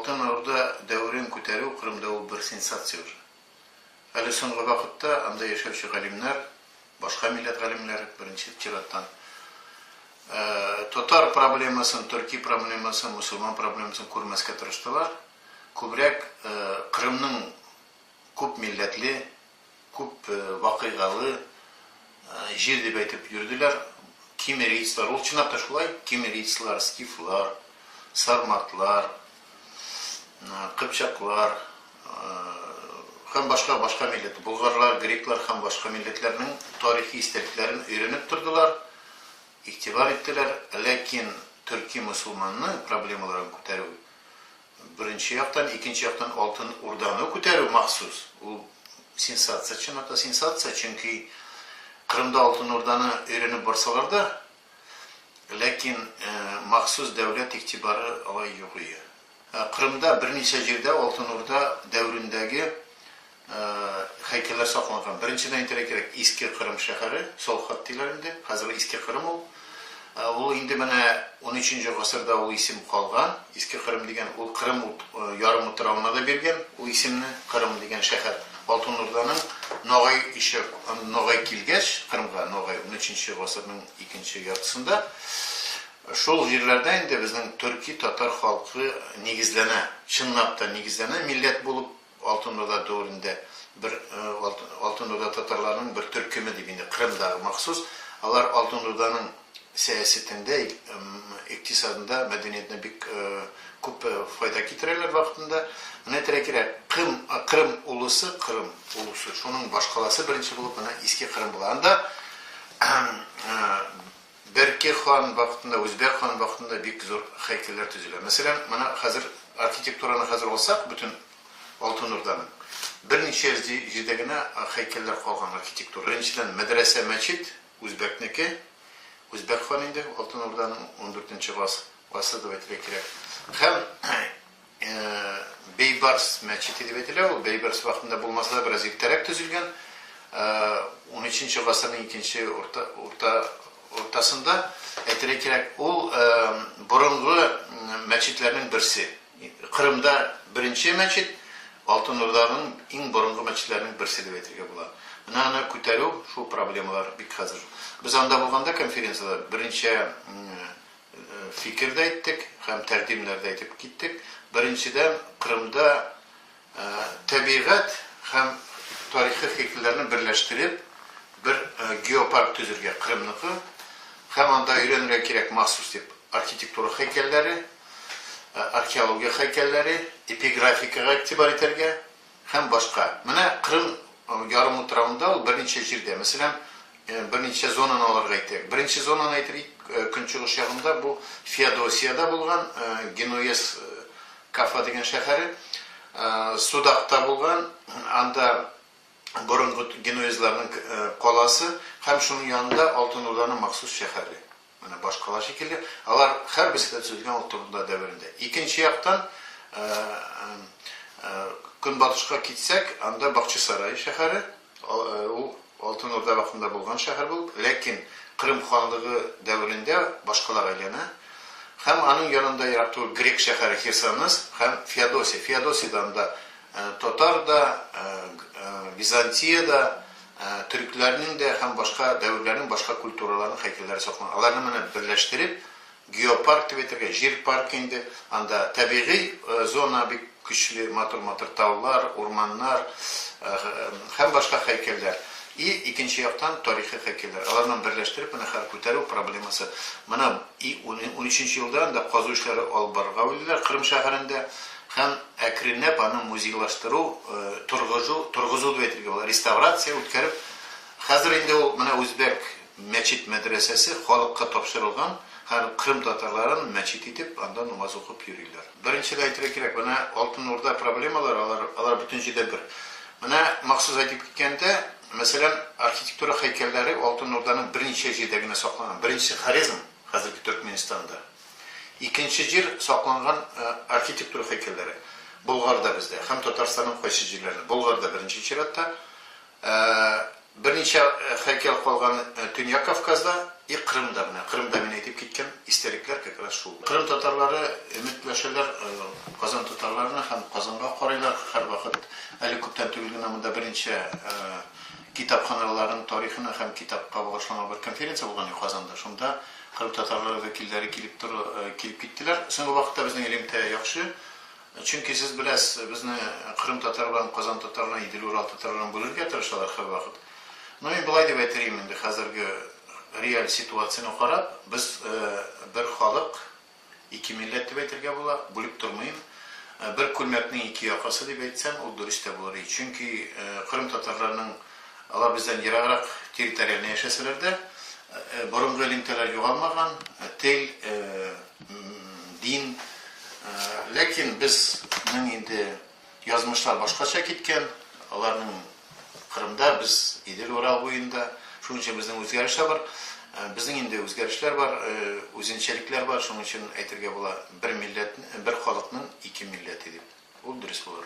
Алтын Орда дәверен күтәрү Кырымда ул бер сенсация уже. Әле соңгы вакытта анда яшәүче галимнәр, башка милләт галимнәре, беренче чираттан, татар проблемасын, төрки проблемасын, мөселман проблемасын күрмәскә тырыштылар, күбрәк Кырымның күп милләтле, Күп вакыйгалы җир дип әйтеп йөрделәр. Кимерийцлар, ул чынлап та шулай, кимерийцлар, скифлар, сарматлар, кыпчаклар һәм башка, башка милләт, болгарлар, греклар һәм башка милләтләрнең тарихи истәлекләрен өйрәнеп тордылар, игътибар иттеләр, ләкин төрки-мөселманның проблемаларын күтәрү, Беренче яктан, икенче яктан Алтын Урданы күтәрү махсус, ул сенсация, чынлап-та сенсация, чөнки Кырымда Алтын Урданы өйрәнеп барсалар да, ләкин махсус дәүләт игътибары алай юк ие. Кырымда берничә җирдә Алтын Урда дәверендәге Һәйкәлләр сакланган. Беренчедән әйтергә кирәк, Иске Кырым шәһәре, Солхат диләр инде, хәзерге Иске Кырым ул. Ул инде менә унөченче гасырда ул исем калган. Иске Кырым дигән ул Кырым ярым утравына да биргән ул исемне, Кырым дигән шәһәр. Алтын Урданың Ногай ише Ногай килгәч, Кырымга Ногай унөченче гасырның икенче яртысында шул җирләрдә инде безнең төрки-татар халкы нигезләнә, чынлап та нигезләнә, милләт булып. Алтын Урда дәверендә бер Алтын Урда татарларының бер төркеме дип инде Кырымдагы махсус, алар Алтын Урданың сәясәтендә, икътисадында, мәдәниятенә бик күп файда китерәләр вакытында. Менә терәкирәк Кым, Кырым улысы, Кырым улусы, шуның башкаласы беренче булып менә Иске Кырым була. Анда Берки хан вакытында, Үзбәк хан вакытында бик зур һәйкәлләр төзелә. Мәсәлән, менә хәзер архитектураны хәзер алсак, бөтен Алтын Урданың, берничә йөз җирдә генә һәйкәлләр калган архитектура. Беренчедән, мәдрәсә, мәчет, үзбәкнеке, үзбәк хан инде, Алтын Урданың, ундүртенче гасыр дип әйтергә кирәк. Һәм. Бейбарс мәчете дип әйтелә ул, Бейбарс вакытында булмаса да бераз иртәрәк төзелгән, унөченче гасырның икенче урта уртасында, әйтергә кирәк, ул борынгы мәчетләрнең берсе, Кырымда беренче мәчет, Алтын Урданың иң борынгы мәчетләрнең берсе дип әйтергә була. Менә аны күтәрү, шул проблемалар бик хәзер. Без анда булганда конференциядә берничә фикер дә әйттек һәм тәкъдимнәр дә әйтеп киттек. Беренчедән, Кырымда тәбигать һәм тарихи һәйкәлләрне берләштереп, бер геопарк төзергә, Кырымныкы һәм анда өйрәнергә кирәк махсус дип архитектура һәйкәлләре, археология һәйкәлләре, эпиграфикага игътибар итәргә. Һәм башка. Менә Кырым ярымутравында ул берничә җирдә, мәсәлән, берничә зонаны алырга әйтәйек. Беренче зонаны әйтелик, көнчыгыш ягында бу Феодосиядә булган, Генуэзс Кафа дигән шәһәре, Судакта булган, анда борынгы генуэзларның каласы һәм шуның янында Алтын Урданың махсус шәһәре. Менә башкалар шикелле, алар һәрберсе дә төзелгән ул турында дәверендә. Икенче яктан, көнбатышка китсәк, анда Бакчасарай шәһәре, ул Алтын Урда вакытында булган шәһәр булып, ләкин Кырым ханлыгы дәверендә башкалага әйләнә. Һәм аның янында ерак түгел грек шәһәре Херсонес һәм Феодосия. Феодосиядә анда татар да, Византия дә, Төрекләрнең дә һәм башка дәверләрнең башка культураларының һәйкәлләре сакланган. Аларны менеп берләштереп, геопарк дип әйтергә, җир паркы инде. Анда табигый зона бик көчле, матур-матур таулар, урманнар һәм башка һәйкәлләр. И икенче яктан тарихи һәйкәлләр. Аларны берләштереп менә хәзер күтәрү проблемасы. Менә и унөченче елда анда казу эшләре алып барырга уйлыйлар Кырым шәһәрендә. Һәм әкренләп аны музейлаштыру, торгыжу, торгызу дип әйтергә була, реставрация үткәреп, хәзер инде ул менә үзбәк мәчет-мәдрәсәсе халыкка тапшырылган, һәм кырым татарларын мәчет итеп, анда намаз укып йөриләр. Беренчедән әйтергә кирәк, менә Алтын Урда проблемалары, алар, алар бөтен җирдә бер. Менә махсус әйтеп киткәндә, мәсәлән, архитектура һәйкәлләре Алтын Урданың берничә җирдә генә сакланган. Беренчесе, Хорезм, хәзерге Төркменстанда. Икенче җир, сакланган архитектура һәйкәлләре. Болгарда бездә һәм Татарстанның кайсы җирләрендә, Болгарда беренче чиратта, берничә һәйкәл калган Төньяк Кавказда и Крымда, менә Крымда мин әйтеп киткән истәлекләр как раз шул. Крым татарлары өметләшәләр Казан татарларына һәм Казанга карыйлар һәрвакыт. Әле күптән түгел генә монда беренче китапханаларның тарихына һәм китапка багышланган бер конференция булган иде Казанда, шунда Кырым татарлары вәкилләре килеп тор, килеп киттеләр. Соңгы вакытта безнең элемтә яхшы. Чөнки сез беләсез, безне кырым татарларын Казан татарларына, Идел Урал татарларын бүлергә тырышалар һәрвакыт. Ну мин болай дип әйтирим инде хәзерге реаль ситуацияне карап, без бер халык, Ике милләт дип әйтергә була, бүлеп тормыйм. Бер күлмәкнең ике якасы дип әйтсәм, ул дөрес тә булыр иде. Чөнки кырым татарларының, алар бездән ераграк территориальне яшәсәләр дә, борынгы элемтәләр югалмаган, тел, дин. Ләкин безнең инде Язмышлар башкача киткән, аларның Кырымда, без Идел, Урал буенда. Шуның өчен безнең үзгәрешләр бар. Безнең инде үзгәрешләр бар, үзенчәлекләр бар. Шуның өчен әйтергә була, бер милләт, бер халыкның ике милләте дип. Ул дөрес булыр.